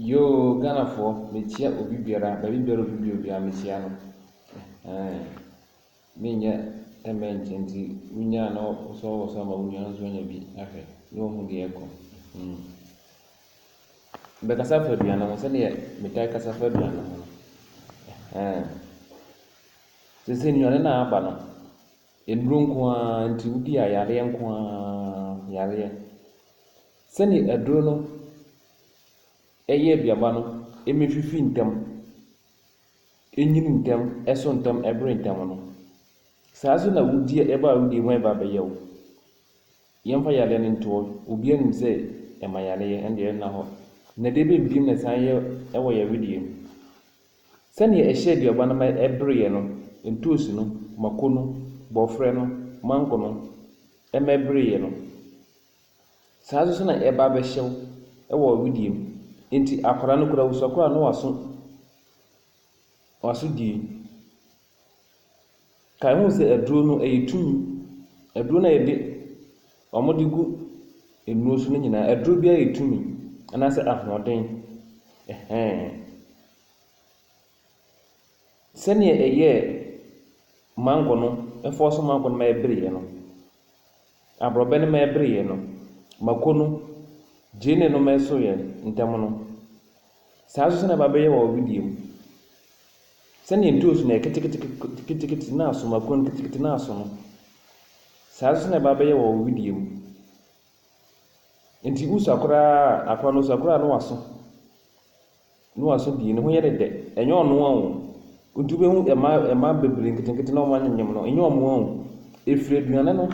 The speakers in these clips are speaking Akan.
Yoo Ghanafoɔ mekyia obi biara baabi biara obi bi obiara mekyia no ɛhɛɛn menyɛ mɛnkyɛ nti wonya a na wosɔwosɔ ma wo nua no nso anya bi ahwɛ na wahu deɛ ɛrekɔ hmm Bɛkasa fa aduane ho sɛdeɛ metaa kasa fa aduane ho no ɛhɛɛn Seesei nnuane no a aba no nnuro nko ara nti wodi a yareɛ nko ara yareɛ. Sɛnea aduru no yɛ aduaba no ma efifi ntɛm, enyin ntɛm, ɛso ntɛm, ɛbere ntɛm no, saa ara nso na wudi a ɛba a wudi ho a ɛba abɛyɛ wo. Yɛmfa yareɛ no ntoɔ, obiara nim sɛ ɛma yareɛ, ɛno deɛ ɛnna hɔ. Na deɛ ɛbɛn bim na ɛsan yɛ wɔ yɛn wedeɛ mu. Sɛnea ɛhyɛ aduaba no ma ɛbereɛ no, ntoosi no, mako no, borɔferɛ no, mango no, ɛma ɛbereɛ no, Saa ara nso na ɛba bɛhyɛ wo wɔ wedeɛ mu. Enti akwadaa no koraa wosua koraa a na waso waso die. Kae ho sɛ aduro no ɛyɛ tumi. Aduro no a yɛde wɔde gu nnuro so no nyinaa aduro biara yɛ tumi anaasɛ ahoɔden. Ɛhɛn. Sɛdeɛ ɛyɛɛ mango no, ɛfɔɔ so mango no ma ɛbereɛ no, aborɔbɛ no ma ɛbereɛ no, mako no, gyeene no ma ɛsoeɛ ntɛm no, saa nso na ɛba bɛyɛ wɔ wedeɛ mu. Sɛdeɛ ntoosi no yɛ ketekete na aso, mako no ketekete na aso no, saa nso na ɛba bɛyɛ wɔ wedeɛ mu. Enti wosua koraa a, akora no ɔsua koraa a na waso. Noah so deɛ, ne ho yɛ no dɛ. Ɛnyɛ ɔno ara o. Nti wobɛhu mma, mma bebree nketenkete na wɔanyem no, ɛnyɛ wɔn ara o. Ɛfiri aduane no,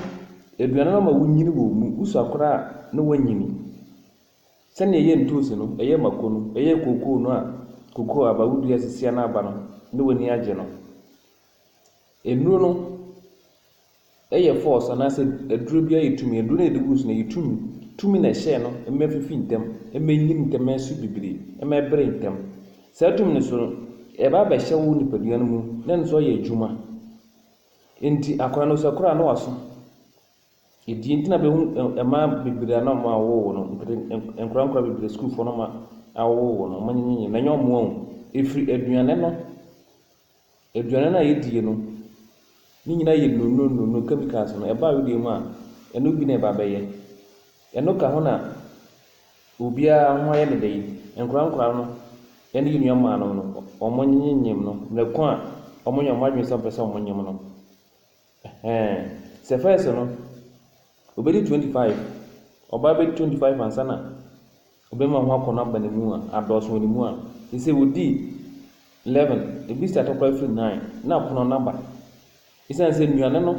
aduane no ma wonyini wɔ mu. Wosua koraa a, na wɔanyini. Sɛdeɛ ɛyɛ ntoosi no, ɛyɛ mako no, ɛyɛ kookoo no a, kookoo aba, wodua a ɛsisia no aba no, na w'ani agye no. Nnuro no. Ɛyɛ force anaasɛ aduro bi ayɛ tumi, aduro no a yɛde gu so no ɛyɛ tumi, tumi na ɛhyɛɛ no mma ɛfifi ntɛm, mma ɛnyini ntɛm, mma ɛso bibire, mma ɛbere ntɛm. Saa tumi no so no, ɛba bɛhyɛ wo nipadua no mu na ɛno nso ayɛ adwuma. Enti akwadaa no sɛ ɛkora a na waso. Ɛdeɛ nti na bɛhu mmaa bebree a na wɔawo wɔn no, nkete nkwadaa nkwadaa bebree sukuufoɔ no ma awowo wɔn no, wɔanyinyin na ɛnyɛ wɔn o, ɛfiri aduane no. Aduane no a yɛdie no, ne nyinaa yɛ nnuro nnuro, chemicals no, ɛbaa wedeɛ mu a, ɛno bi na ɛba bɛyɛ. Ɛno ka ho na obiara ho ayɛ no dɛ yi, nkwadaa nkwadaa no ne yɛn nua mmaa no no, wɔnyem no mmerɛ ko a wɔnya wɔn adwene sɛ wɔpɛ sɛ wɔnyem no. Ɛhɛɛ sɛ first no obedi twenty five, ɔbaa bedi twenty five ansa na ɔbɛrima ho akɔnnɔ aba ne mu a, adɔɔso wɔ ne mu a, seesei odi eleven, ebi start koraa firi nine, na apono no aba. Esiane sɛ nnuane no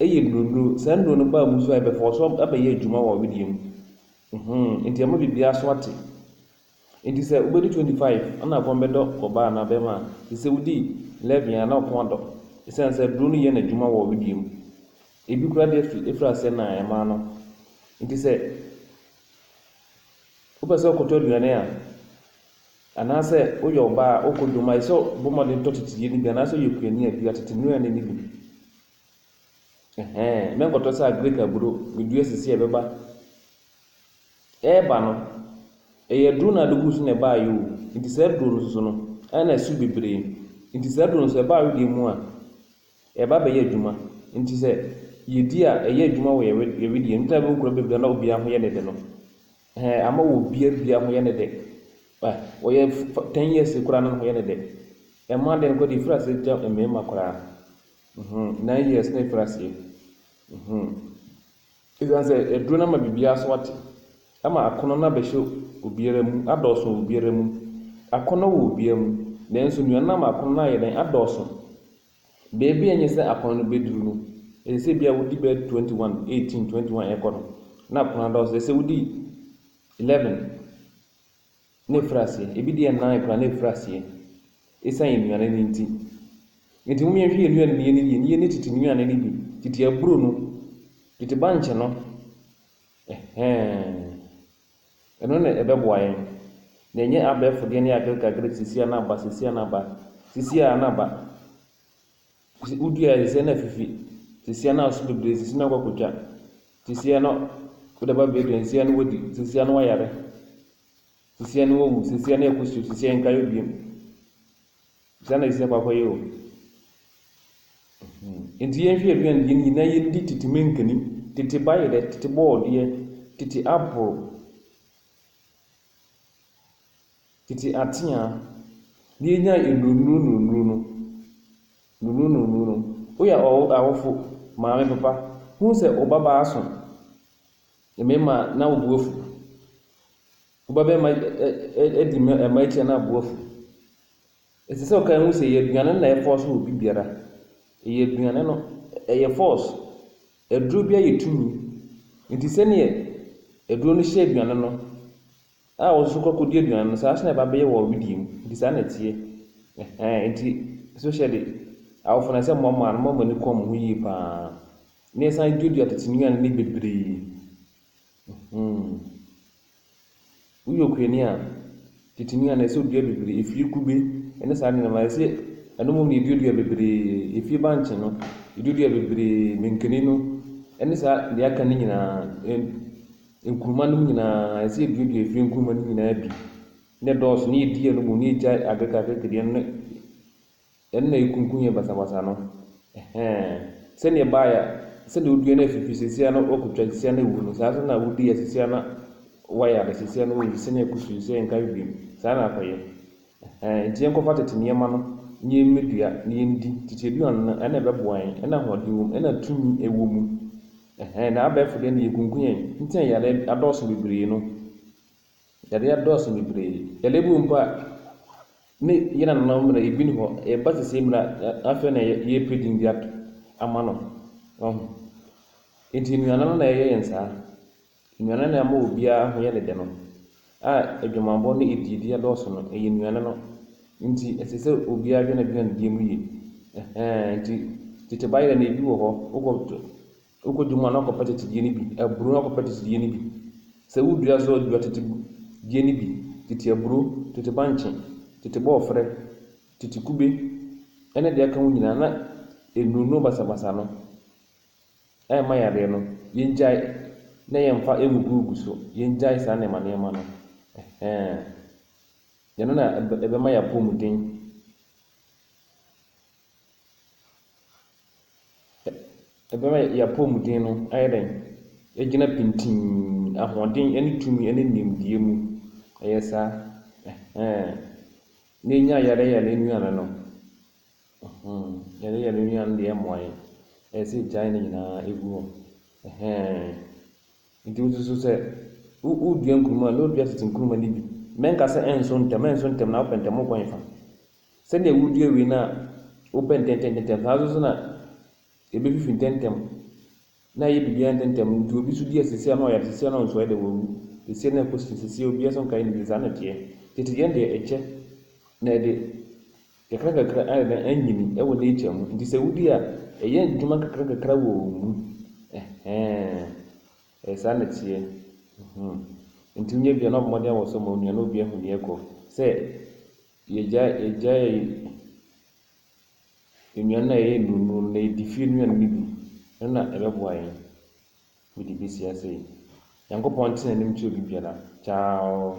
yɛ nnuro-nnuro, saa nnuro no baa mu so a, ɛbɛfɔɔso abɛyɛ adwuma wɔ wedeɛ mu. Nti ɛma biribiara so ate. Enti sɛ wobɛdi 25 a na kɔn bɛdɔ ɔbaa anaa barima a, te sɛ wodii 11 a na wo kɔn adɔ ɛsiane sɛ aduro no yɛ n'adwuma wɔ wedeɛ mu. Ebi koraa de afiri afiri aseɛ na ɛmaa no. Enti sɛ wopɛ sɛ wokɔtɔ aduane a, anaasɛ woyɛ ɔbaa a wokɔ dwom a, ɛsɛ sɛ wobɔ mmɔden tɔ teteyɛ no bi anaasɛ woyɛ kuani a dua tete nnuane no bi. Ɛhɛn, mɛnkɔtɔ sɛ agric aburo, medua sisi a ɛbɛba. Ɛreba no, ɛyɛ aduro na ade gu so na ɛbaeɛ o, nti saa aduro no nso no, ɛyɛ na ɛso bebree. Nti saa aduro no nso ɛba wedeɛ mu a, ɛba abɛyɛ adwuma. Nti sɛ yɛdi a, ɛyɛ adwuma wɔ yɛn wedeɛ mu. Nti na bɛhu nkuro bebree na obiara ho yɛ ne dɛ no. Ɛhɛn, ama wɔ obiara biara ho yɛ ne dɛ. Ɛ, wɔyɛ fa ten years koraa na ne ho yɛ ne dɛ. Ɛma deɛ no koraa deɛ ɛfiri aseɛ gya mmarima koraa. Mhmm, nine years na ɛfiri aseɛ. Mhmm. Esiane sɛ aduro no ama biribiara so ate, ama akɔnnɔ no abɛhyɛ obiara mu, adɔɔso wɔ obiara mu. Akɔnnɔ wɔ obiara mu, nanso nnuan no ama akɔnnɔ no ayɛ dɛn? Adɔɔso. Baabi a enye sɛ akɔnnɔ no bɛduru no, ɛsɛ sɛ ebia wodi bɛyɛ 21, 18, 21 ɛrekɔ no, na akɔnnɔ no adɔɔso. Ɛsɛ sɛ wodi 11, na ɛfiri aseɛ. Ebi deɛ nnan koraa na ɛfiri aseɛ ɛsiane yɛn nnuane no nti. Nti mom yɛnhwɛ yɛn nnuane no yɛnni yie na yɛnni tete nnuane no bi, tete aburo no, tete bankye no, ɛhɛɛn. Ɛno na ɛbɛboa yɛn. Na ɛnyɛ abɛɛfo deɛ ne agrekagre, sesia na aba, sesia na aba, sesia na aba. Ɔsi wodua a ɛsɛ sɛ na afifi. Sesia no aso bebree, sesia no akɔ akotwa. Sesia no wode aba bɛdua a, sesia no wadi, sesia no wayare. Sesia no wawu, sesia no ɛkɔ so, sesia yɛnka yɛ bio. Saa na sesia kɔ akɔyɛ o. Nti yɛnhwɛ aduane yɛn nyinaa yɛndi tete mankani, tete bayerɛ, tete bɔɔdeɛ, tete apple. Tete ateaa, deɛ enyaa nnurunuru nnurunuru no, nnurunuru nnurunuru no, woyɛ awo awofo, maame, papa, hu sɛ wo babaa so mmarima a, na wo bo afu. Wo babarima ɛ ɛ ɛ adi mma mmaa akyi a, na wo bo afu. Ɛsɛ sɛ wokae hu sɛ ɛyɛ aduane no na ɛfɔɔse obi biara. Ɛyɛ aduane no, ɛyɛ force. Aduro biara yɛ tumi. Enti sɛdeɛ aduro no hyɛ aduane no A wɔn nso kɔ kɔdi aduane no, saa nso na ɛba bɛyɛ wɔ wedeɛ mu, nti saa na ɛteɛ. Ɛhɛn, nti especially awofo na sɛ moamoa no, momma mo ani kɔ wɔn ho yie pa ara, na yɛsan duadua tete nnuane no bebree. Hmm. Woyɛ okuani a, tete nnuane ɛsɛ odua bebree, efie kube ne saa nneɛma, ɛsɛ ɛno mmom na yɛduadua bebree, efie bankye no, yɛduadua bebree, mankani no, ɛne saa deɛ aka no nyinaa. Nkuruma nom nyinaa, ɛsɛ sɛ yɛduadua ɛfiri nkuruma no nyinaa bi na ɛdɔɔso na yɛdi ɛno mmom na yɛgyae akerekaakereke deɛ no, ɛno na ɛkunkum yɛn basabasa no. Ɛhɛɛ, sɛdeɛ ɛbaeɛ a, sɛdeɛ wodua no afifiri seesei ara na wɔakɔtwa seesei ara na awu no, saa ara nso na wodi a seesei ara na wɔayare seesei ara na wɔayi sɛdeɛ ɛkɔ so yi sɛ ɛnka bio, saa ara na akɔyɛ. Ɛhɛn, ntsi yɛnkɔfa tsetse ndzɛmba no na yɛmmedua na yendi, tsetse eduan no, nna ɛbɛboa hɛn, nna ahoɔdzen wɔ mu, nna tummi wɔ mu. Ɛhɛn, na abaɛfor dɛ nna yekunku hɛn ntsi na yarɛ adɔɔso beberee no, yarɛ adɔɔso beberee, yarɛ bi wɔ mu mpo a nna hɛn nananom mber a ibi nnyi hɔ, yɛreba sesei mber a afei na yerepɛ dzin bi ato ama no, wahu. Ntsi enuanom no na yɛyɛ hɛn saa. Nnuane na ɛma obiara ho yɛ ne dɛ no, a adwamammɔ ne adiedi adɔɔso no, ɛyɛ nnuane no. Enti ɛsɛ sɛ obiara dwen aduannidie mu yie. Ɛhɛɛ enti tete bayerɛ no, ebi wɔ hɔ, wokɔ to, wokɔ dwom a na wakɔpɛ tete die no bi, aburo na wakɔpɛ tete die no bi. Sɛ wodua nso a, dua tete die no bi, tete aburo, tete bankye, tete bɔɔfrɛ, tete kube, ne deɛ ɛka ho nyinaa, na ɛnunuo basabasa no. ɛmma yareɛ no, yɛngyae na yɛmfa ngugugugu so, yɛngyae saa nneɛma nneɛma no. Ɛhɛn. Ɛno na ɛbɛma yɛapɔmuden. Ɛbɛma yɛapɔmuden no ayɛ dɛn? Agyina pintinn, ahoɔden ne tumi ne nimdeɛ mu. Ɛyɛ saa. Ɛhɛn. Na yɛnya ayareyare nnuane no, Ɛhee yɛne yɛn nua no deɛ ɛmmoa yɛn ɛyɛ sɛ yɛgyae ne nyinaa ɛgu hɔ ɛhee nti wo nso sɛ wodua nkuruma a na wodua tete nkuruma no bi mɛnka sɛ ɛnso ntɛm ɛnso ntɛm na wopɛ ntɛm wokɔ hefa sɛdeɛ wodua wei no a wopɛ ntɛntɛntɛm saa nso na ɛbɛfifi ntɛntɛm na ɛyɛ biribiara ntɛmntɛm nti obi nso di asɛsia na ɔyare asɛsia na ɔnsɔre da wawu asɛsia na ɛkɔ sini asɛsia obiara nso nkae ne saa na ɛteɛ tete yɛn deɛ ɛkyɛ na ɛde kakrakakra ayɛ dɛn anyini ɛwɔ nature mu nti sɛ wodi a ɛyɛ adwuma kakrakakra wɔ wɔn mu ɛhɛn ɛyɛ saa na ɛteɛ hmm nti wonya bia na ɔbɔmmɔden awɔ so ma onua na obi ahu nea ɛkɔ sɛ yɛgya yɛgya yɛ nnuane a ɛyɛ nnuru nnuru no, na yɛdi fie nnuane no bi, ɛno na ɛbɛboa yɛn ma yɛde bɛsi ase. Nyankopɔn nte n'anim nkyerɛ obi biara. Ciao.